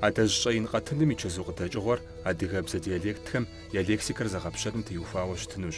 Адэжь щӏэин къэтыным и чэзу къыдэкӏыгъуэр адыгэбзэ диалектхэм я лексикэр зэгъэпщэным теухуауэ щытынущ.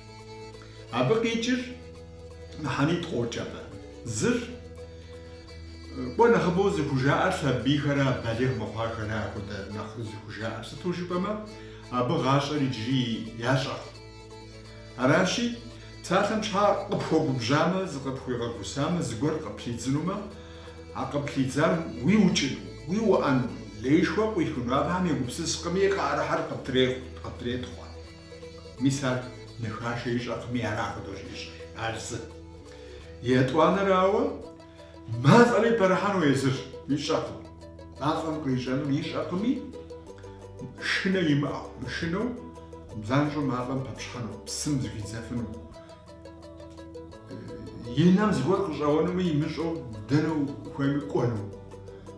Абы къикӏыр мыхьэнитӏ къокӏ абы. Зыр, кӏуэ нэхъыбэу зыхужаӏэр сабийхэрэ балигъ мыхъуахэрэ ахуэдэ нэхъ зыхужаӏэр, сыту жыпӏэмэ, абы гъащӏэр иджыри ящӏэкъым. Аращи, псалъэм щхьэ къыпхуэгубжьамэ, зыкъыпхуигъэгусамэ, зыгуэр къыплъидзынумэ, а къыплъидзар уиукӏыну, уиуӏэну, лейшхуэ къуихыну абыхэм егупсыскъыми, къыӏэрыхьэр къыптретхъуэ. Мис ар нэхашэ ищӏэкъыми, ара ахуэдэу щӏищӏыр, ар зы. Етӏуанэрауэ, мафӏэри пэрыхьэну езыр ищӏэкъым. Мафӏэм кърищӏэнур ищӏэкъыми, шынэ имыӏэу, мышынэу, занщӏэу мафӏэм пэпщхьэну, псым зыхидзэфыну. И нэм зыгуэр къыщӏэуэнуми имыщӏэу дэнэ ухуейми кӏуэну.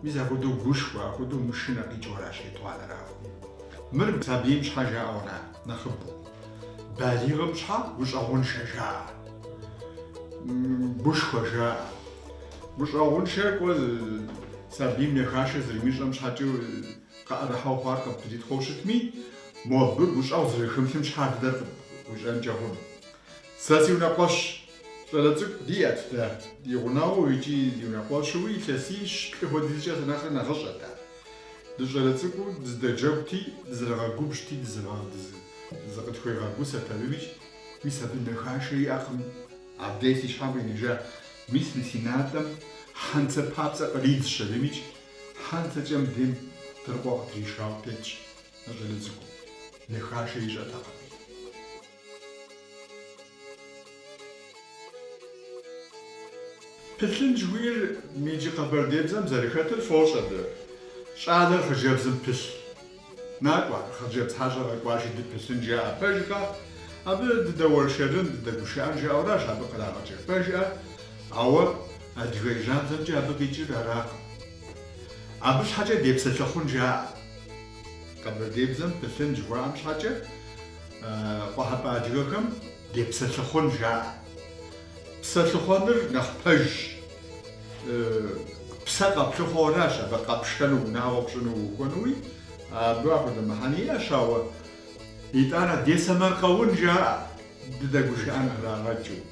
Мис ахуэдэу гушхуэ, ахуэдэу мышынэ къикӏыуэращ етӏуанэрауэ. Мыр сабийм щхьэ жаӏэуэра нэхъыбэу. Балигъым щхьэ гущӏэгъуншэ жаӏэ. Гушхуэ жаӏэ. Гущӏэгъуншэ кӏуэ сабийм нэхашэ зэрымищӏэм щхьэкӏэ къыӏэрыхьэу хъуар къыптритхъуэу щытми, мо абы гущӏэгъу зэрыхымылъым щхьэ а дыдэр къыуищӏэнкӏэ хъуну. Сэ си унэкъуэщ щӏалэ цӏыкӏу диӏэт дэ, ди гъунэгъуу икӏи ди унэкъуэщыуи илъэсищ-плӏы хуэдизкӏэ сэ нэхърэ нэхъыщӏэт ар. Дыщӏалэ цӏыкӏуу дыздэджэгути, дызэрыгъэгубжьти дызыкъытхуегъэгусэрт абымикӏ, мис абы нэхашэ иӏэкъым. Абдей си щхьэм къинэжа, мис мы си натӏэм хьэнцэ папцӏэ къридзщ абымикӏ, хьэнцэкӏэ мыбдейм тыркъуэ къытришауэ тетщ а щӏалэ цӏыкӏум, нэхашэ ищӏэтэкъыми. Пылъын жыхуиӏэр иджы къэбэрдейбзэм зэрыхэтыр дощӏэ дэ. Щӏалэр хъыджэбзым пылъ. Накӏуэ, хъыджэбз хьэщӏэ къэкӏуащи дыпылъын жаӏэ пэжкъэ? Абы дыдэуэршэрын, дыдэгушыӏэн жаӏэуращ абы кърагъэкӏыр, пэжкъэ? Ауэ адыгей жьабзэмкӏэ абы къикӏыр аракъым. Абы щхьэкӏэ депсэлъыхъун жаӏэ. Къэбэрдейбзэм пылъын жыхуаӏэм щхьэкӏэ къухьэпӏэ адыгэхэм депсэлъыхъун жаӏэ. Псэлъыхъуэныр нэхъ пэжщ. Псэ къэплъыхъуэуращ абы къэпшэну, унагъуэ пщӏыну уухуэнуи, абы ахуэдэ мыхьэнэ иӏэщ, ауэ итӏанэ десэмэркъэун жаӏэ. дыдэгушыӏэн кърагъэкӏыу.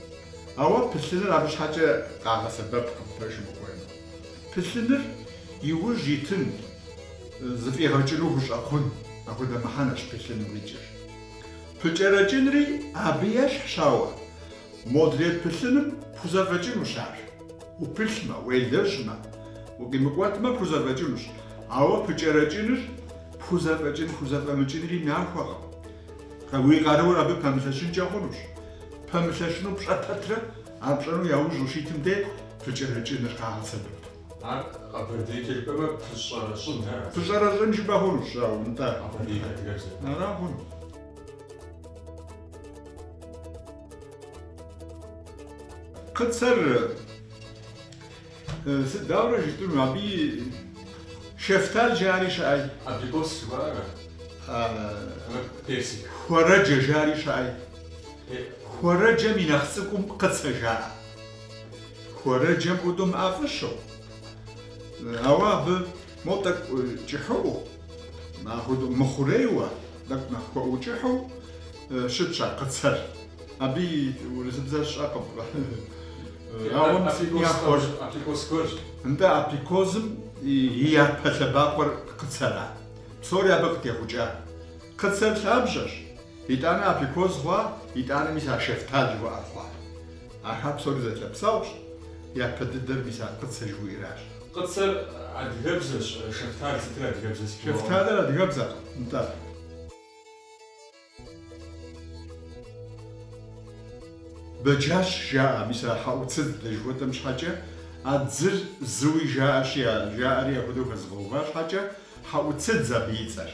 Ауэ пылъыныр абы щхьэкӏэ къагъэсэбэпкъым, пэжым ухуеймэ. Пылъыныр иужь итын, зыфӏигъэкӏыну хущӏэкъун, апхуэдэ мыхьэнэщ пылъыным къикӏыр. Пыкӏэрэкӏынри абы ещхьщ, ауэ модрей пылъыным пхузэфӏэкӏынущ ар. Упылъмэ, уелэжьмэ, укъимыкӏуэтмэ, пхузэфӏэкӏынущ. Ауэ пыкӏэрэкӏыныр пхузэфӏэкӏын-пхузэфӏэмыкӏынри нахуэкъым. Уи къаруур абы пэмылъэщынкӏэ хъунущ. Пэмылъэщыну пщӏэ пэтрэ ар пщӏэну яужь ущитым де пыкӏэрэкӏыныр къагъэсэбэп. Ар къэбэрдейкӏэ жыпӏэмэ пыщӏэрэщӏын, ара? Пыщӏэрэщӏын жыпӏэ хъунущ, ауэ, нтӏэ. Къэбэрдей адыгэбзэ. Ара хъун. Къыцэр. Сыт, дауэрэ жытӏэну, абы шэфтал жари щыӏэй? Абрикос жыхуаӏэр ара? Абы персик. Хуэрэджэ жари щыӏэй? Хуэрэджэм и нэхъ цӏыкӏум къыцэ жаӏэ. Хуэрэджэм хуэдэу мыӏэфӏыщэу, ауэ абы мо тӏэкӏу кӏыхьыӏуэу, хуэмыхъурейуэ, тӏэкӏу нэхъ хуэӏукӏыхьу щытщ а къыцэр. Абы и урысыбзэр сщӏэкъым. Ауэ си гугъу схуэж. Априкоз гуэрщ. Нтӏэ, априкозым и япэ лъэбакъуэр къыцэрат. Псори абы къытехъукӏат. Къыцэр лъабжьэщ. Итӏанэ априкоз хъуа, итӏанэ мис а шэфтал жыхуаӏэр хъуат. Ахэр псори зэлъэпсэгъущ, япэ дыдэр мис а къыцэ жыхуиӏэращ. Къыцэр адыгэбзэщ, шэфтал сытыр адыгэбзэ сыт жыхуаӏэну? Шэфталыр адыгэбзэкъым, нтӏэ. Бэджащ жаӏэ, мис а хьэӏуцыдз дэ жыхуэтӏэм щхьэкӏэ а дзыр зыуи жаӏэщи, жаӏэри апхуэдэу хэзыгъэува щхьэкӏэ, хьэӏуцыдз абы и цӏэр,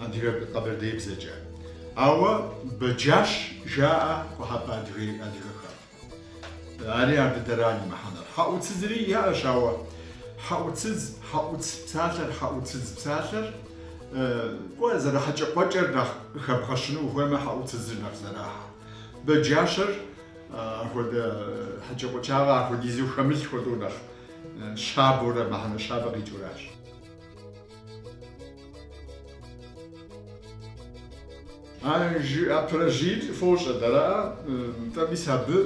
адыгэ къэбэрдеибзэкӏэ. Ауэ Бэджащ жаӏэ къухьэпӏэ адыгэхэм. Ари ар дыдэра и мыхьэнэр. Хьэӏуцызри яӏэщ, ауэ хьэӏуцыз, хьэӏуц псалъэр, хьэӏуцыз псалъэр, кӏуэ, зэрыхьэкӏэкъуэкӏэр нэхъ къыхэбгъэщыну ухуеймэ, хьэӏуцызыр нэхъ зэрахьэ. Бэджащэр апхуэдэ хьэкӏэкъуэкӏагъэ апхуэдизу хэмылъ хуэдэу нэхъ щабэурэ, мыхьэнэ щабэ къикӏыуращ. А жыӏэ пэрэжьийр фощӏэ дэрэ, нтӏэ мис абы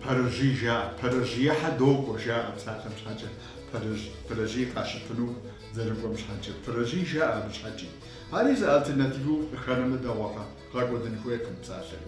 пэрэжьий жаӏэ, пэрэжьиехьэ докӏуэ жаӏэ псалъэм щхьэкӏэ, пэрэжь, пэрэжьий къащыпыну зэрыкӏуэм щхьэкӏэ, пэрэжьий жаӏэ абы щхьэкӏи. Ари зы альтернативэу къыхэнэмэ дэгъуэкъэ, гъэкӏуэдын хуейкъым псалъэри.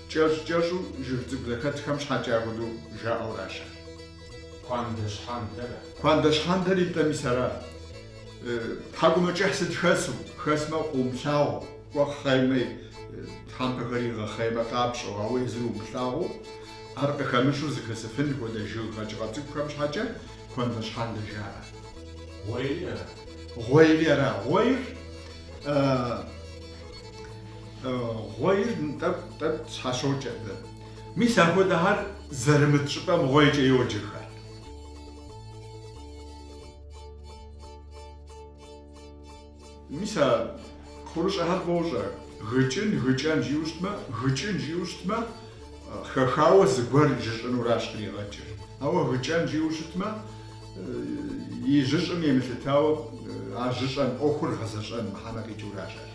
Кӏэщӏ-кӏэщӏу жыг цӏыкӏу зэхэтхэм щхьэкӏэ ахуэдэу жаӏэуращ. Куандэ щхьэндэрэ? Куандэ щхьэндэр итӏэ мис ара. Тхьэкӏумэкӏыхь сыт хэсу? Хэсмэ, къыумылъагъу, кӏуэ хъеймэ, тхьэмпэхэр игъэхъеймэ къапщӏэу, ауэ езыр умылъагъуу, ар къыхэмыщу зыхэсыфын хуэдэ жыг къэкӏыгъэ цӏыкӏухэм щхьэкӏэ куандэ щхьэндэ жаӏэ. Гъуейри ара? Гъуейри ара? Гъуейр, э. Гъуейр тӏэкӏу-тӏэкӏу щхьэщокӏэ абы. Мис ахуэдэхэр зэрымыт щӏыпӏэм гъуейкӏэ йоджэхэр. Мис а кхъурыщӏэхэр фӏыуэ щӏэ? Гыкӏын, гыкӏэн жиӏэу щытмэ, гыкӏын жиӏэу щытмэ, хэхауэ зыгуэр жьыщӏынуращ къригъэкӏыр. Ауэ гыкӏэн жиӏэу щытмэ, и жьыщӏым емылъытауэ а жьыщӏэн ӏуэхур гъэзэщӏэн мыхьэнэ къикӏыуращ ар.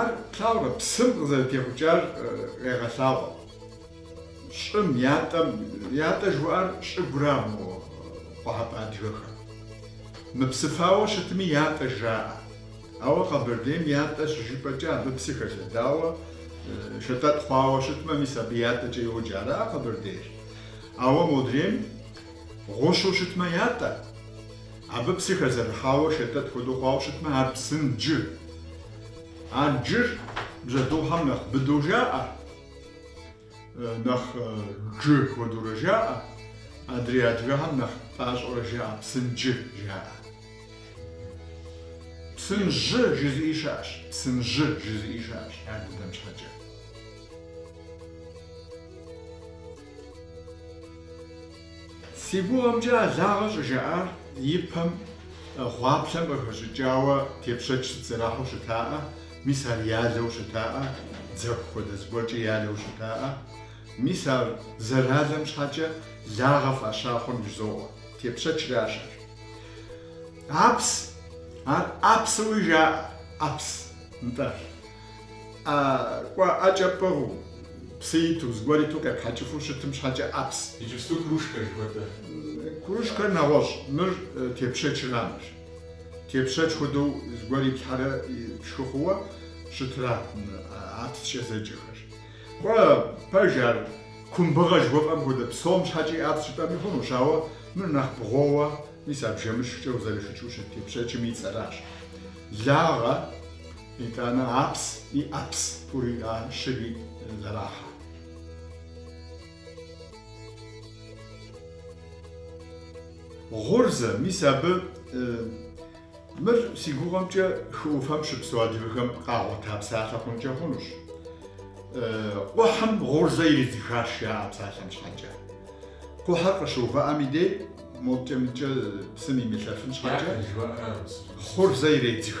Ар, плъагъурэ, псым къызэрытехъукӏар къегъэлъагъуэ. Щӏым, ятӏэм, ятӏэ жыхуаӏэр щӏыгура мо къуэхьэпӏэ адыгэхэм. Мыпсыфауэ щытми ятӏэ жаӏэ. Ауэ Къэбэрдейм ятӏэ щыжыпӏэкӏэ абы псы хэлъэдауэ, шэтӏэтӏ хъуауэ щытмэ, мис абы ятӏэкӏэ йоджэ, ара Къэбэрдейр? Ауэ модрейм гъущу щытмэ ятӏэ. Абы псы хэзэрыхьауэ шэтӏэтӏ хуэдэу хъуауэ щытмэ, ар псынджы. А джыр бжьэдыгъухэм нэхъ быдэу жаӏэ, нэхъ джы хуэдэурэ жаӏэ, адрей адыгэхэм нэхъ пӏащӏэурэ жаӏэ, псынджы жаӏэ. Псынжьы жызыӏи щыӏэщ, псынжьы жызыӏи щыӏэщ ар дыдэм щхьэкӏэ. Си гугъэмкӏэ а лагъэ щӏыжаӏар ипэм гъуаплъэм къыхэщӏыкӏауэ тепщэч сыт зэрахьэу щытаӏэ, мис ар ялэу щытаӏэ, дзэху хуэдэ зыгуэркӏэ ялэу щытаӏэ. Мис ар зэралэм щхьэкӏэ лагъэ фӏаща хъун жызоӏэ, тепщэчращ ар. Апс, ар ӏэпсэуи жаӏэ, ӏэпс, нтӏэ. А кӏуэ ӏэкӏэ пӏыгъыу, псы иту, зыгуэр иту къепхьэкӏыфу щытым щхьэкӏэ ӏэпс. Иджыпсту кружкэ жыхуэтӏэ. Кружкэр нэгъуэщӏ, мыр тепщэчрамэщ. Тепщэч хуэдэу зыгуэр иплъхьэрэ пшхы хъууэ щытра ӏэпскӏэ зэджэхэр. Кӏуэ пэж ар кумбыгъэ жыхуэфӏэм хуэдэ, псом щхьэкӏи ӏэпс жыпӏэми хъунущ, ауэ мыр нэхъ бгъууэ, мис а бжэмышхкӏэ узэрышхыкӏыу щыт тепщэчым и цӏэращ. Лагъэ. Итӏанэ апс и ӏэпс пӏуриӏа щыри зэрахьэ. Гъурзэ, мис абы мыр си гугъэмкӏэ хы ӏуфэм щыпсэу адыгэхэм къагъуэта псалъэ хъункӏэ хъунущ. Кхъухьым гъурзэ иридзыхащ жаӏэ псалъэм щхьэкӏэ. Кхъухьыр къыщыувыӏэм и дей, моткӏэ-мыткӏэ псым имылъэфын щхьэкӏэ, гъурзэ иредзых.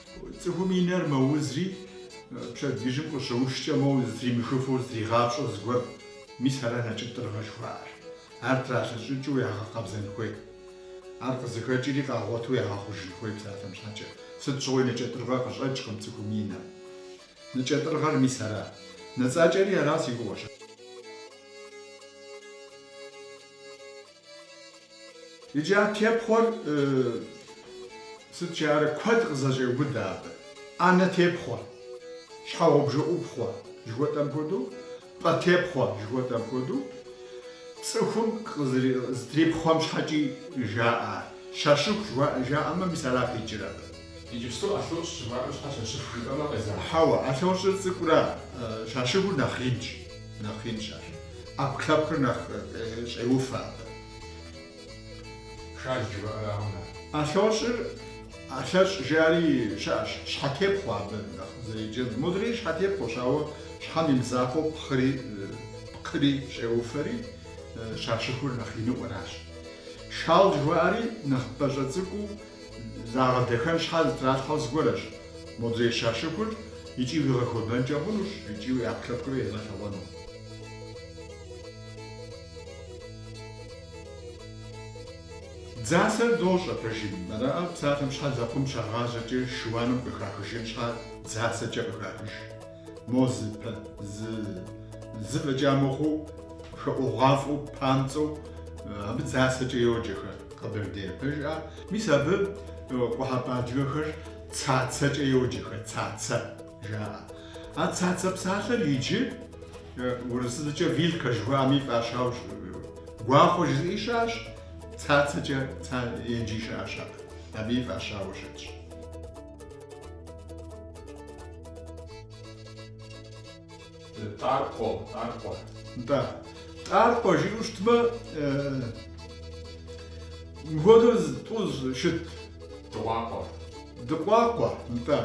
Цӏыхум и нэр мэузри, пщэдджыжьым къыщыушкӏэ моуэ зытримыхыфу зытригъапщӏэу зыгуэр, мис ара нэкӏэтӏырыгъэ жыхуаӏэр. Ар тралъэщӏыкӏыу ягъэкъэбзэн хуей. Ар къызыхэкӏри къагъуэту ягъэхъужын хуей псалъэм щхьэкӏэ. Сыт щыгъуи нэкӏэтӏырыгъэ къыщӏэкӏкъым цӏыхум и нэм. Нэкӏэтӏырыгъэр мис ара. Нэцӏакӏэри ара си гугъэщ. Иджы а тепхъуэр сыт жаӏэрэ куэд къызэщӏеубыдэ абы. ӏэнэ тепхъуэ, щхьэгъубжэ ӏупхъуэ жыхуэтӏэм хуэдэу, пӏэ тепхъуэ жыхуэтӏэм хуэдэу цӏыхум зытрипхъуэм щхьэкӏи жаӏэ ар. Щащыху жаӏэмэ, мис ара къикӏыр абы. Иджыпсту ӏэлъощӏ жыхуаӏэм щхьэ щащыху жыпӏэмэ къезэгъ. Хьэуэ, ӏэлъощӏыр цӏыкӏурэ щащыхур нэхъ инщ. Нэхъ инщ ар. ӏэпкълъэпкъыр нэхъ щӏеуфэ абы. Шал жыхуаӏэракъым ар. ӏэлъощӏыр, ӏэлъэщӏ жаӏэри щыӏэщ, щхьэтепхъуэ абы нэхъ зэреджэр. Мори щхьэтепхъуэщ, ауэ щхьэм и мызакъуэу пкъыри, пкъыри щӏеуфэри, щащыхур нэхъ иныӏуэращ. Шал жыхуаӏэри нэхъ пӏащӏэ цӏыкӏуу Загъэдэхэн щхьэ зытралъхьэу зыгуэращ, модрей щащыхур икӏи уигъэхуэбэнкӏэ хъунущ икӏи уи ӏэпкълъэпкъыр ямылъагъуну. Дзасэр дощӏэ пэжым, араӏэ псалъэм щхьэ лэкъум щагъажьэкӏэ шыуаным къыхахыжын щхьэ дзасэкӏэ къыхахыж. Мо зы пэ, зы, зы фӏэкӏа мыхъуу, хэӏугъуафӏэу, памцӏэу, абы дзасэкӏэ йоджэхэ къэбэрдейр, пэжыӏа? Мис абы къухьэпӏэ адыгэхэр цацэкӏэ йоджэхэ, цацэ жаӏэ. А цацэ псалъэр иджы урысыбзэкӏэ вилка жыхуаӏэми фӏащауэ гуахъуэ жызыӏи щыӏэщ, цацэкӏэ, ца, еджи щыӏэщ абы. Абыи фӏащауэ щытщ. Тӏаркъуэ, тӏаркъуэ. Да. Тӏаркъуэ жиӏэу щытмэ, мыхуэдэу тӏу щыт. Дыкъуакъуэ. Дыкъуакъуэ, нтӏэ.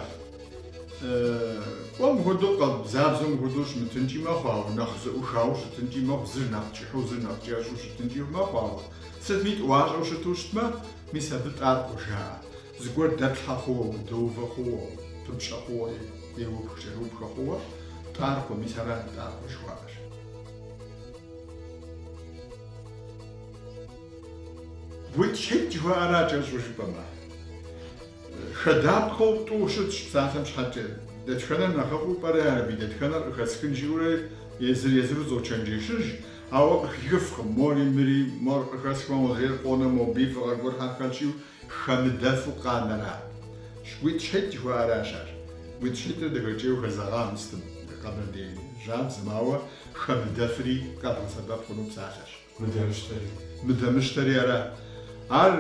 Кӏуэ мыхуэдэу къэбзабзэу мыхуэдэу щымытынкӏи мэхъу, ауэ нэхъ зэӏухауэ щытынкӏи мэхъу, зыр нэхъ кӏыхьу, зыр нэхъ кӏэщӏу щытынкӏи мэхъу, ауэ сытми тӏуащӏэу щыту щытмэ, мис абы тӏаркъуэ жаӏэ. Зыгуэр дэплъхьэ хъууэ, удэувэ хъууэ, пыпщӏэ хъууэри, къиупх-кӏэрыупхэ хъууэ, тӏаркъуэ, мис ара тӏаркъуэ жыхуаӏэр. Гуитӏщхьитӏ жыхуаӏэра кӏэщӏу жыпӏэмэ? Хэдапхъэу тӏу щытщ псалъэм щхьэкӏэ. Дэтхэнэр нэхъыфӏу пӏэрэ ар абы и дэтхэнэр къыхэсхын жиӏэурэ езыр-езыру зочэнджэщыж, ауэ къыхихыфкъым, мори мыри, мор къыхэсхмэ, модрейр къонэ, моби, фӏыгъэ гуэрхэ хэлъщи, Хэмыдэфу къанэра? Гуитӏщхьитӏ жыхуаӏэращ ар. Гуитӏщхьитӏыр дахэкӏейуэ хэзэгъа мы сытым, къэбэрдей жьабзэм, ауэ хэмыдэфри къэбгъэсэбэп хъуну псалъэщ. Мыдэмыщтэри ара? Ар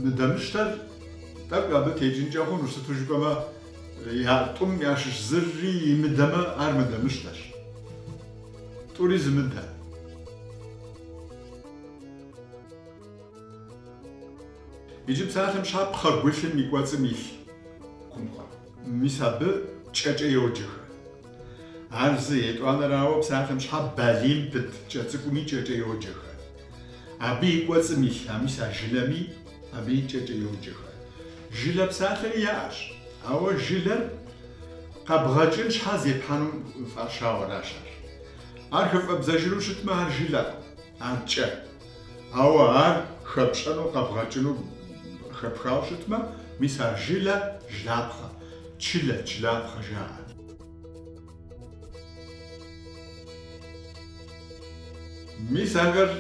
мыдэмыщтэр тӏэкӏу абы текӏынкӏэ хъунущ, сыту жыпӏэмэ, я тӏум ящыщ зыри имыдэмэ, ар мыдэмыщтэщ. Тӏури зымыдэ. Иджы псалъэм щхьэ пхъэгулъым и кӏуэцӏым илъ кумхъуэ. Мис абы кӏэкӏэ йоджэхэ. Ар зы, етӏуанэрауэ, псалъэм щхьэ балийм пыт кӏэ цӏыкӏуми кӏэкӏэ йоджэхэ. Абы и кӏуэцӏым илъ, а мис а жылэми, абыи кӏэкӏэ йоджэхэ. Жылэ псалъэри яӏэщ, ауэ жылэр къэбгъэкӏын щхьэ зепхьэну фӏащауэращ ар. Ар хыфӏэбдзэжыну щытмэ, ар жылэкъым, ар кӏэ. Ауэ ар хэпщӏэну къэбгъэкӏыну хэпхауэ щытмэ, мис ар жылэ, жылапхъэ, чылэ, чылапхъэ жаӏэ. Мис ахэр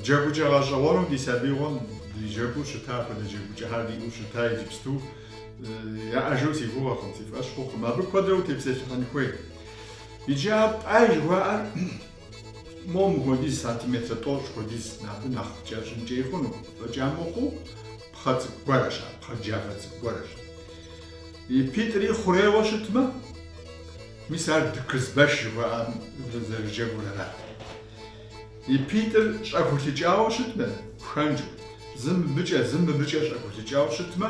джэгукӏэ гъэщӏэгъуэну ди сабиигъуэм дыджэгуу щыта, апхуэдэ джэгукӏэхэр диӏэу щыта иджыпсту яӏэжу си гугъэкъым, си фӏэщ хъукъым. Абы куэдрэ утепсэлъыхьын хуей. Иджы а пӏай жыхуаӏэр Мо мыхуэдиз сантиметрэ тӏощӏ хуэдиз абы нэхъ кӏэщӏынкӏи хъуну, фӏэкӏа мыхъуу, пхъэ цӏыкӏу гуэрщ ар, пхъэ джафэ цӏыкӏу гуэрщ. И питӏри хъурейуэ щытмэ, мис ар дыкызбэш жыхуаӏэм зэрыджэгур ара. И питӏыр щӏэхулыкӏауэ щытмэ, пхэнжу, зы мыбыкӏэ, зы мыбыкӏэ щӏэхулыкӏауэ щытмэ,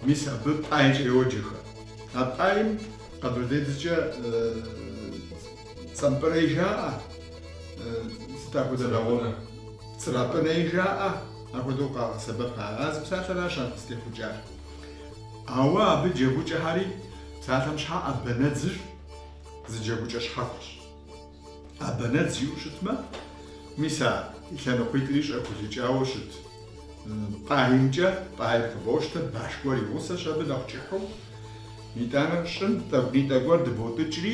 мис абы пӏайкӏэ йоджэхэ. А пӏайм къэбэрдей дежкӏэ Цӏэмпӏырэй жаӏэ, сыт апхуэдэ лэгъуэу? Цӏрапӏырэй жаӏэ, апхуэдэу къагъэсэбэп ар. А зы псалъэращ ар къызытехъукӏар. Ауэ абы джэгукӏэхэри, псалъэм щхьэ ӏэбэнэдзыр зы джэгукӏэ щхьэхуэщ. Ӏэбэнэдз жиӏэу щытмэ, мис а лъэныкъуитӏри щӏэхулыкӏауэ щыт пӏаймкӏэ, пӏайр къыбощтэ, баш гуэр и гъусэщ абы нэхъ кӏыхьу. Итӏанэ щӏым тӏэкӏунитӏэ гуэр дыботӏыкӏри,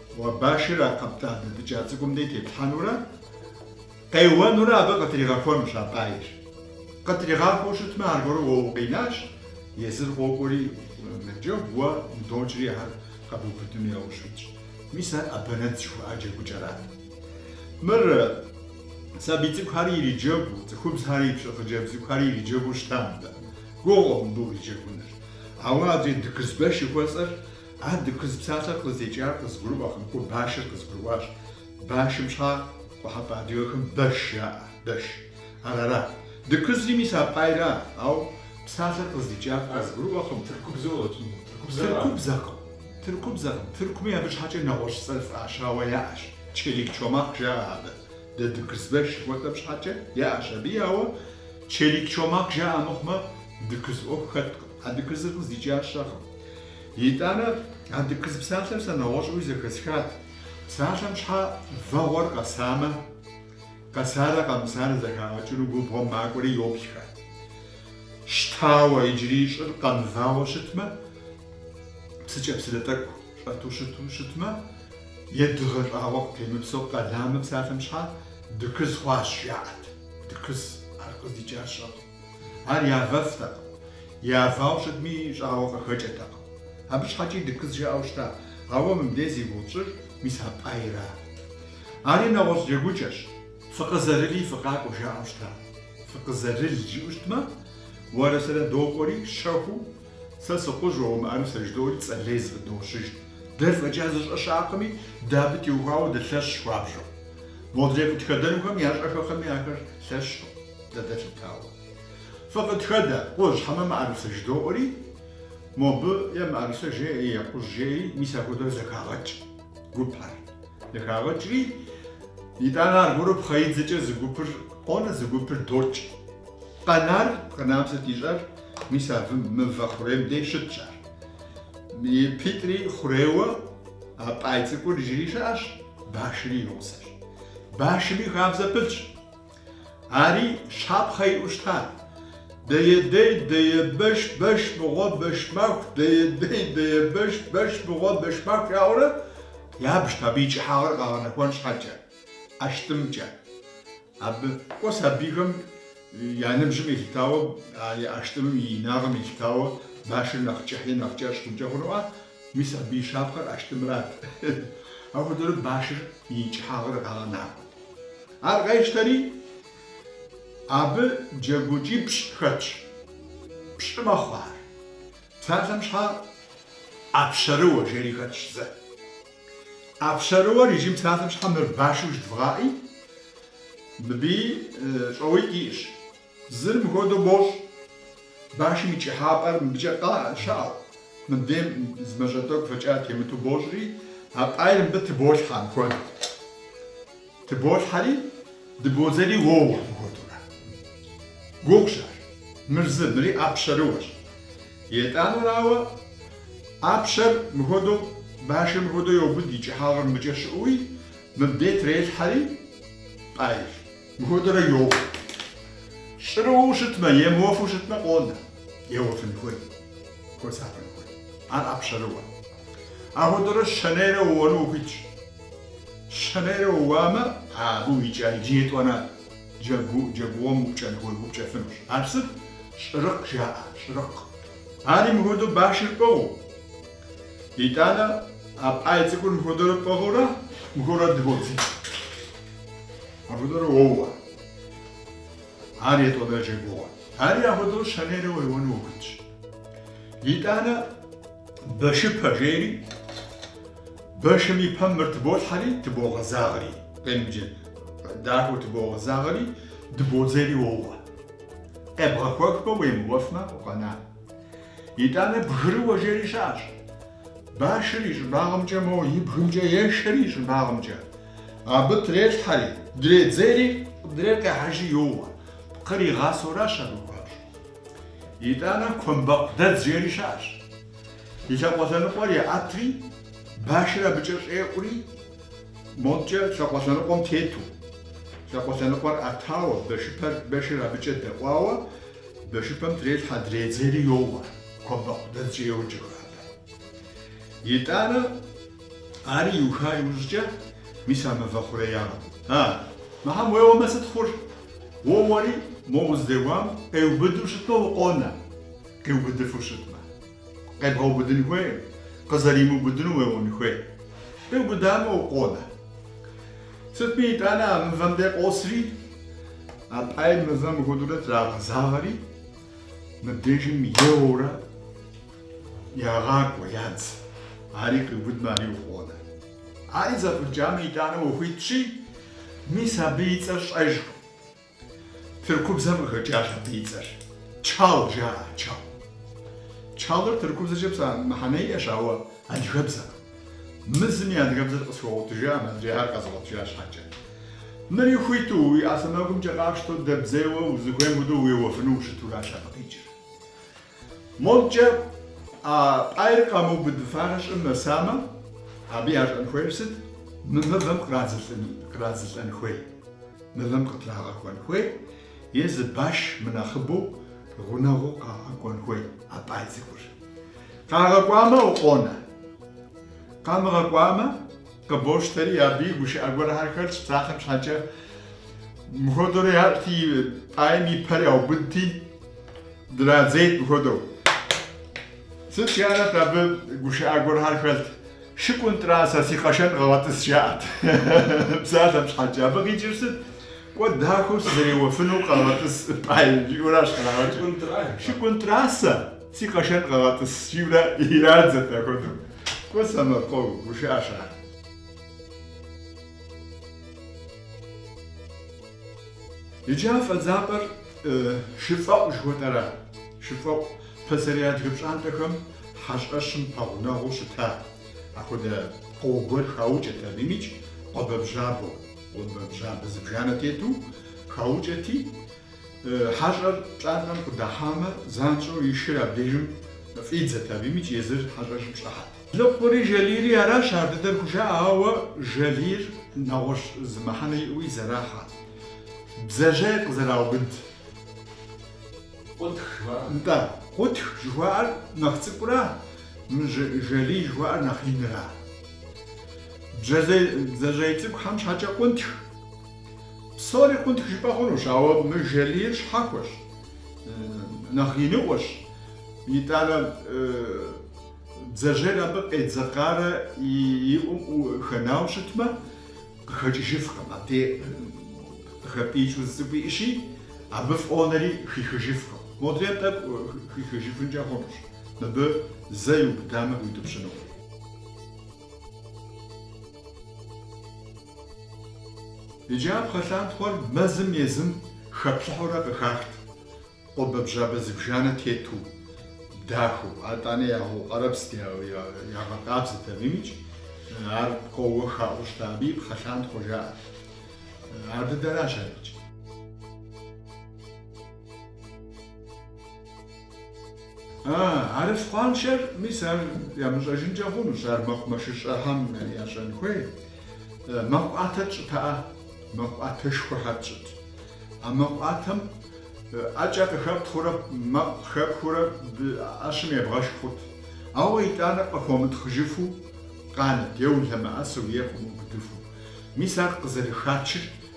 Уэ башыр а къэптӏа дэтӏыкӏа цӏыкӏум дей теплъхьэнурэ къеуэнурэ абы къытригъэхуэнущ а пӏаир. Къытригъахуэу щытмэ, аргуэру уэ укъинащ, езыр къокӏуэри, мэджэгу уэ удокӏри ар къэбубыдыну яужь уитщ. Мис ар ӏэбэнэдз жыхуаӏэ джэгукӏэрат. Мыр сабий цӏыкӏухэр ириджэгуу, цӏыхубзхэр ипщӏы хъыджэбз цӏыкӏухэри ириджэгуу щыта мыбы. Гугъукъым мыбы уриджэгуныр. Ауэ адрей Дыкызбэш жыхуэсӏэр А дыкыз псалъэр къыздикӏар къызгурыӏуэкъым, ауэ башыр къызгурыӏуащ. Башым щхьа къуэхьэпӏэ адыгэхэм бэш жаӏэ, бэш. Арара. Дыкызри мис а пӏайра, ауэ псалъэр къыздикӏар къызгурыӏуэкъым. Тыркубзэу къэтщӏынут, тыркубзэрат. Тыркубзэкъым, тыркубзэкъым. Тыркуми абы щхьэкӏэ нэгъуэщӏ цӏэр фӏащауэ яӏэщ, челик чомахъ жаӏэ абы. Дэ дыкызбэш жыхуэтӏэм щхьэкӏэ яӏэщ абыи, ауэ челик чомахъ жаӏэ мыхъумэ, дыкыз ӏуэху хэткъым. А дыкызыр къыздикӏар сщӏэкъым. Итӏанэ а дыкыз псалъэм сэ нэгъуэщӏуи зэхэсхат. Псалъэм щхьэ вэгъуэр къэсамэ, къэсарэ къэмысарэ зэхагъэкӏыну губгъуэм макӏуэри йоплъхэ. Щтауэ, иджыри щӏыр къэмывауэ щытмэ, псыкӏэпсылэ тӏэкӏу щӏэту щыту щытмэ, е дыгъэ щӏагъуэ къытемыпсэу къэламэ псалъэм щхьэ дыкыз хъуащ, жаӏэт. Дыкыз, ар къыздикӏар сщӏэкъым. Ар явэфтэкъым, явауэ щытми, щӏагъуэ къыхэкӏыртэкъым. Абы щхьэкӏи дыкыз жаӏэу щыта, ауэ мыбдей зи гугъу тщӏыр мис а пӏайра. Ари нэгъуэщӏ джэгукӏэщ. Фыкъызэрыли фыкъакӏуэ жаӏэу щыта. Фыкъызэрыл жиӏэу щытмэ, уэрэ сэрэ докӏуэри, щэхуу, сэ сыкхъужь, уэ умыӏэрысэ жыдоӏуэри, цӏэ лей зыфӏыдощыж. Дэр фӏэкӏа зыщӏэ щыӏэкъыми, дэ абы теухуауэ дылъэщщ хуабжьу. Модрей къытхэдэнухэм ящӏэххэкъыми ахэр лъэщкъым. дэ дэлъытауэ. Фыкъытхэдэ, кхъужь хьэмэ мыӏэрысэ жыдоӏуэри, мобы е мыӏэрысэ жеӏэ, е кхъужь жеӏи, мис апхуэдэу зэхагъэкӏ гупыр. Зэхагъэкӏри, итӏанэ аргуэру пхъэидзэкӏэ зы гупыр къонэ, зы гупыр докӏ. Къэнар, къэнам сыт ищӏэр, мис абы мывэ хъурейм дей щытщ ар. Ипитӏри хъурейуэ а пӏай цӏыкӏур иджыри щыӏэщ, башри и гъусэщ. Башми хабзэ пылъщ. Ари щапхъэ иӏэу щыта? Дэедей, дэебэш, бэш мыгъуэ, бэшмаху, дэедей, дэебэш, бэш мыгъуэ, бэшмаху жаӏэурэ ябжт абы и кӏыхьагъыр къагъэнэхуэн щхьэкӏэ, ӏэщтӏымкӏэ. Абы кӏуэ сабийхэм я ныбжьым елъытауэ, а ӏэщтӏымым и инагъым елъытауэ башыр нэхъ кӏыхьи, нэхъ кӏэщӏ хъункӏэ хъунуӏэ, Мис абы и щапхъэр ӏэштӏымрат. Апхуэдэурэ башыр и кӏыхьагъыр къагъэнахуэт. Ар къещтэри, абы джэгукӏипщӏ хэтщ. Пщӏы мэхъу ар. Псалъэм щхьэ ӏэпщэрыуэ жери хэтщ зэ. ӏэпщэрыуэр иджы псалъэм щхьэ мыр башу жыдвгъэӏи, мыбыи щӏоуитӏ иӏэщ. Зыр мыхуэдэу бощӏ, башым и кӏыхьапӏэр мыбыкӏэ къэ щыӏэу, мыбдейм зы мащӏэ тӏэкӏу фэкӏа темыту бощӏри, а пӏайр мыбы тыболъхьэ мыхуэдэу. Тыболъхьэри, дыбодзэри уоуэ мыхуэдэурэ. Гугъущ ар. Мыр зы, мыри ӏэпщэрыуэщ. Етӏанэрауэ, ӏэпщэр мыхуэдэу, башыр мыхуэдэу йобыд и кӏыхьапӏэр мыбыкӏэ щыӏэуи, мыбдей трелъхьэри, пӏайр. Мыхуэдэурэ йоуэ. Щӏырыуэу щытмэ емыуэфу щытмэ къонэ. Еуэфын хуей. Хуэсакъын хуей. Ар ӏэпщэрыуэ. Апхуэдэурэ щэнейрэ ууэну ухуитщ. Щэнейрэ ууамэ, абы уикӏа иджы етӏуанэ джэгу, джэгугъуэм упкӏэн хуей, упкӏэфынущ. Ар сыт? Щӏырыкъ жаӏэ, щӏырыкъ. Ари мыхуэдэу башыр пӏыгъыу. Итӏанэ а пӏай цӏыкӏур мыхуэдэурэ пӏыгъыурэ мыхуэурэ дыбодзи. Апхуэдэурэ уоуэ. Ар етӏуанэ джэгугъуэ. Ари апхуэдэу щэнейрэ уеуэну ухуитщ. Итӏанэ бэшыпэ жейри, бэшым и пэм мыр тыболъхьэри, тыбогъэзагъри. Къемыджэ дахэу тыбогъэзагъри, дыбодзэри уоуэ. Къебгъэхуэхмэ, уемыуэфмэ, укъэна. Итӏанэ бгырыуэ жери щыӏэщ. Башыр и щӏыбагъымкӏэ, мо и бгымкӏэ ешэри и щӏыбагъымкӏэ. Абы трелъхьэри, дредзери, къыдрейр къехьэжи йоуэ. Пкъыр игъасэуращ абы хуабжьу. Итӏанэ Куэмбэкъудэдз жери щыӏэщ. И лъакъуэ лъэныкъуэр еӏэтри, башыр абыкӏэ щӏеӏури, модкӏэ лъакъуэ лъэныкъуэм тету. Лъакъуэ лъэныкъуэр ӏэтауэ, бэшыпэр, бэшыр абыкӏэ дэӏуауэ, бэшыпэм трелъхьэ, дредзери йоуэ. Куэмбэкъудэдзкӏэ йоджэхэ абы. Итӏанэ. Ари иуха иужькӏэ, мис а мывэ хъуреягъым. А, мыхьэм уеуэмэ сыт хъур? Уоуэри, мо уздэуам къеубыду щытмэ укъонэ, къиубыдыфу щытмэ. Къебгъэубыдын хуейм, къызэримыубыдыну уеуэн хуей. Къиубыдамэ укъонэ. Сытми итӏанэ а мывэм де къосри, а пӏайр мывэм мыхуэдэурэ трагъэзагъэри, мыбдежым еуэурэ, Ягъакӏуэ, ядз. Ари къиубыдмэ, ари укъонэ. Ари зэфӏыкӏамэ, итӏанэ ухуитщи, мис абы и цӏэр сщӏэжкъым. Тыркубзэм къыхэкӏащ абы и цӏэр. Чал жаӏэ, чал. Чалыр тыркубзэкӏэ пса мыхьэнэ иӏэщ, ауэ адыгэбзэкъым. Мы зым и адыгэбзэр къысхуэгъуэтыжаӏым, адрейхэр къэзгъуэтыжа щхьэкӏэ. Мыри хуиту, уи ӏэ сэмэгумкӏэ къапщтэу, дэбдзейуэ, узыхуейм хуэдэу уеуэфыну ущытуращ абы къикӏыр. Модкӏэ, а пӏайр къамыубыдыфарэ щӏым нэсамэ, абы ящӏэн хуейр сыт? Мы мывэм кърадзылӏэн хуей, мывэм къытрагъэхуэн хуей е зы баш мынэхъыбэу гъунэгъуу къагъэкӏуэн хуей а пӏай цӏыкӏур. Къагъэкӏуамэ, укъонэ. Къамыгъэкӏуамэ? Къыбощтэри, абы и гушыӏэ гуэрхэр хэлъщ псалъэм щхьэкӏэ. Мыхуэдэурэ ящӏти, пӏайм и пэр яубыдти, драдзейт мыхуэдэу. Сыт жаӏэрт абы гушыӏэ гуэрхэр хэлът? Шыкӏунтӏра, сэ си къэшэн къэгъэтӏыс, жаӏэрт псалъэм щхьэкӏэ. Абы къикӏыр сыт? Кӏуэ дахэу сызэреуэфыну къэгъэтӏыс, пӏай, жиӏэуращ кърагъэкӏыр. Шыкӏунтӏра, сэ си къэшэн къэгъэтӏыс, жиӏэурэ ирадзэрт апхуэдэу. Кӏуэ сэмэркъэу гушыӏэщ ар. Иджы а фӏэдзапӏэр Шыфӏэӏу жыхуэтӏэра. Шыфӏэӏу пасэрей адыгэ пщӏантӏэхэм хьэщӏэщым пэгъунэгъуу щыта апхуэдэ пкъо гуэр хаукӏэт абы имыкӏ къуэбэбжьабэу, къуэбэбжьабэ зыбжанэ тету хаукӏэти, Хьэщӏэр пщӏантӏэм къыдыхьамэ, занщӏэу и шыр абдежым фӏидзэт, абы имыкӏ езыр хьэщӏэщым щӏыхьэт. Лыкъури Жалийри аращ ар дыдэр хужаӏэ, ауэ Жалийр нэгъуэщӏ зы мыхьэнэ иӏэуи зэрахьэ, бдзэжьей къызэраубыд. Къунтх жыхуаӏэр? Нтӏэ, Къунтх жыхуаӏэр нэхъ цӏыкӏура, Жалий жыхуаӏэр нэхъ инра? Бдзэжьей цӏыкӏухэм щхьэкӏэ Къунтх. Псори къунтх жыпӏэ хъунущ, ауэ мы жалийр щхьэхуэщ, нэхъ иныӏуэщ, итӏанэ бдзэжьейр абы къедзэкъарэ и ӏум хэнауэ щытмэ, къыхэкӏыжыфкъым, абдей къыхэпӏиикӏыу зы цӏыкӏу иӏыщи, абы фӏонэри хихыжыфкъым. Модрейм тӏэкӏу хихыжыфынкӏэ хъунущ, мыбы зэ иубыдамэ, иутӏыпщынукъым. Иджы а пхъэлъантхъуэр мэзым езым хэплъыхьурэ къыхахт, къуэбэбжьабэ зыбжанэ тету, дахэу. Атӏанэ ягъэукъэрэбзт, ягъэкъабзэт абы имыкӏ, ар пкъоуэ хаӏуу щыта, абы и пхъэлъантхъуэ жаӏэрт. Ар дыдэращ ар икӏ. Арыфкъуаншэр, мис ар ямыщӏэжынкӏэ хъунущ, ар мэкъумэшыщӏэхэм ящӏэн хуей. Мэкъу ӏуатэ тщӏытыӏэ, мэкъу ӏуатэшхуэхэр тщӏыт. А мэкъу ӏуатэм ӏэкӏэ къыхэптхъурэ мэкъу хэпхыурэ ӏэщым ебгъэшх хъут. Ауэ итӏанэ къыхуэмытхъыжыфу къанэт, е улъэмыӏэсу, е къыумыубыдыфу. Мис ар къызэрыхачыр.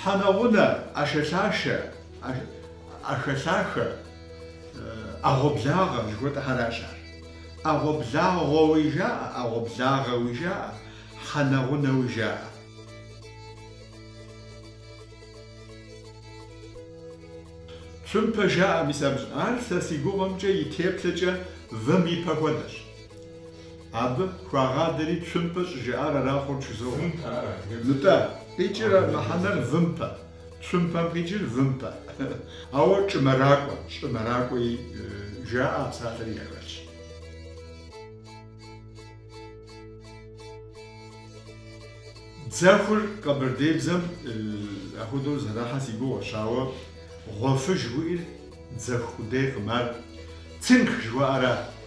Хьэнэгъунэ, ӏэшэлъашэ, ӏэшэлъахэ, ӏэгъуэблагъэ жыхуэтӏэхэращ ар. ӏэгъуэблагъуэуи жаӏэ, ӏэгъуэблагъэуи жаӏэ, хьэнэгъунэуи жаӏэ. Цумпэ жаӏэ мис абы. Ар сэ си гугъэмкӏэ и теплъэкӏэ вым и пэ хуэдэщ. Абы хуагъадэри цумпэ щӏыжаӏар арахъуэу чызогъуэ. Нтӏэ, къикӏыр мыхьэнэр вымпэ, цумпэм къикӏыр вымпэ. Ауэ чӏымэракӏуэ, щӏымэракӏуи жаӏэ а псалъэри яхэлъщ. Дзэхур къэбэрдейбзэм ахуэдэу зэрахьэ си гугъэщ, ауэ гъуэфыж жыхуиӏэр дзэху къудейкъым, ар цинк жыхуаӏэра?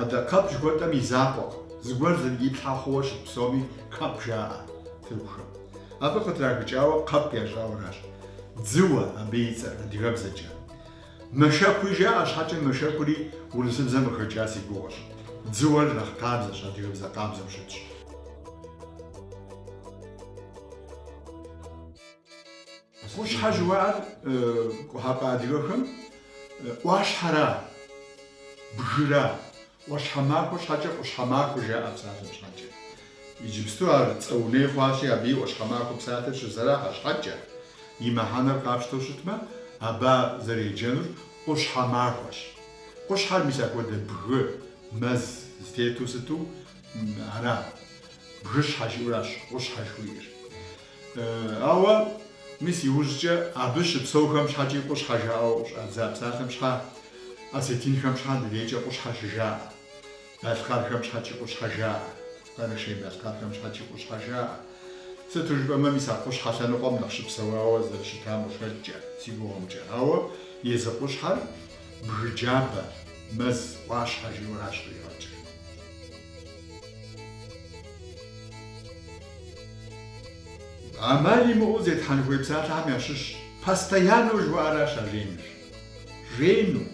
Адэ къэп жыхуэтӏэм и закъуэкъым, зыгуэр зэрыплъхьэ хъууэ щыт псоми къэп жаӏэ тыркухэм. Абы къытрахыкӏауэ къэп ящӏауэращ дзыуэ абы и цӏэр адыгэбзэкӏэ. Мэшэкуи жаӏэ щхьэкӏэ мэшэкури урысыбзэм къыхэкӏа си гугъэщ. Дзыуэр нэхъ къабзэщ, адыгэбзэ къабзэу щытщ. Къущхьэ жыуаӏэр къухьэпӏэ адыгэхэм ӏуащхьэра, бгыра, ӏуащхьэмахуэ щхьэкӏэ къущхьэмахуэ жаӏэ псалъэм щхьэкӏэ. Иджыпсту ар цӏэ уней хъуащи, абы и ӏуащхьэмахуэ псалъэр щызэрахьэ щхьэкӏэ, и мыхьэнэр къапщтэу щытмэ, абы зэреджэнур къущхьэмахуэщ. Къущхьэр мис апхуэдэ бгы, мэз зытету сыту ара, бгыщхьэ жиӏэуращ къущхьэ жыхуиӏэр. Ауэ, мис иужькӏэ абы щыпсэухэм щхьэкӏи къущхьэ жаӏэу къыщӏадза псалъэм щхьэ, осетинхэм щхьэ ди дейкӏэ къущхьэ щыжаӏэ, балъкъэрхэм щхьэкӏи къущхьэ жаӏэ, къэрэшей балъкъэрхэм щхьэкӏи къущхьэ жаӏэ. Сыту жыпӏэмэ, мис а къущхьэ лъэныкъуэм нэхъ щыпсэуауэ зэрыщытам къыхэкӏкӏэ, си гугъэмкӏэ. Ауэ езы къущхьэр бгы джабэ, мэз ӏуащхьэ жиӏэуращ къигъэкӏыр. Амал имыӏэу зетхьэн хуей псалъэхэм ящыщщ постояннэу жыхуаӏэращ а жейнур. Жейну,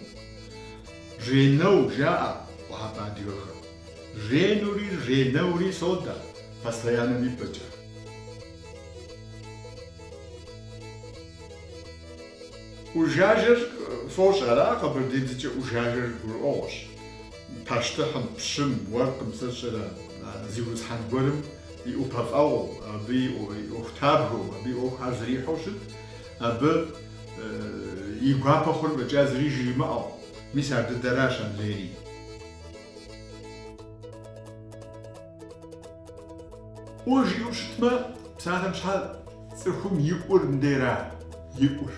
жейнэу жаӏэ къухьэпӏэ адыгэхэм. Жейнури, жейнэури содэ постояннэм и пӏэкӏэ. ӏужажэр фощӏ, ара къэбэрдеибзэкӏэ ӏужажэр гурыӏуэгъуэщ. Пащтыхьым, пщым, уэркъым сэ сщӏэрэ, зиусхьэн гуэрым и ӏупэфӏэгъуэу, абы и ӏуэхутабгэу, абы и ӏуэхухэр зэрихьэу щыт, абы и гуапэ хъур фӏэкӏа зыри жримыӏэу. Мис ар дыдэращ андрейри. ӏуэ жиӏэу щытмэ, псалъэм щхьэ цӏыхум и ӏур мындейра, и ӏур?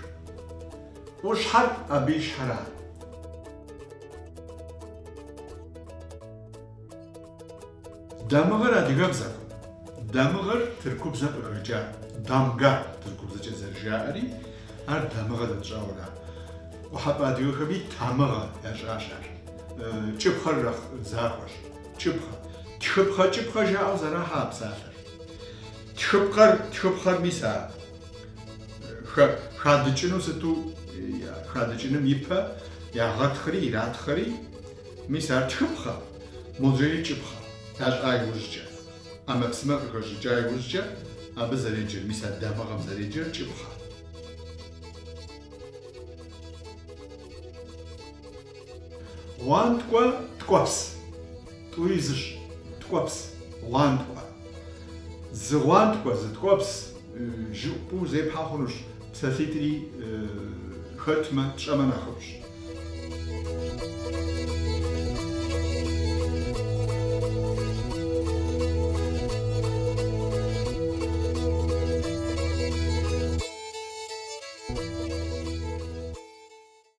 ӏущхьэр абы и щхьэра? Дамыгъэр адыгэбзэкъым. Дамыгъэр тыркубзэм къыхэкӏа. Дамга тыркубзэкӏэ зэрыжаӏэри, ар дамыгъэ дэ тщӏауэра. Къухьэпӏэ адыгэхэми тамыгъэ ящӏащ ар. Кӏыпхъэр нэхъ захуэщ. Кӏыпхъэ. Тхыпхъэ-кӏыпхъэ жаӏэу зэрахьэ а псалъэр. Тхыпхъэр, тхыпхъэр мис а. Хадыкӏыну сыту хадыкӏыным ипэ ягъэтхъри иратхъэри, мис ар тхыпхъэ, модрейри кӏыпхъэ. Ящӏа иужькӏэ, ӏэмэпсымэ къыхэщӏыкӏа иужькӏэ абы зэреджэр, мис а дамыгъэм зэреджэр кӏыпхъэ. Гъуанткӏуэ ткӏуэпс. Тӏури зыщ. Ткӏуэпс. Гъуанткӏуэ. Зы гъуанткӏуэ, зы ткӏуэпс жыӏупӏэу зепхьэ хъунущ, псалъитӏри хэтмэ, тщӏэмэ нэхъыфӏщ.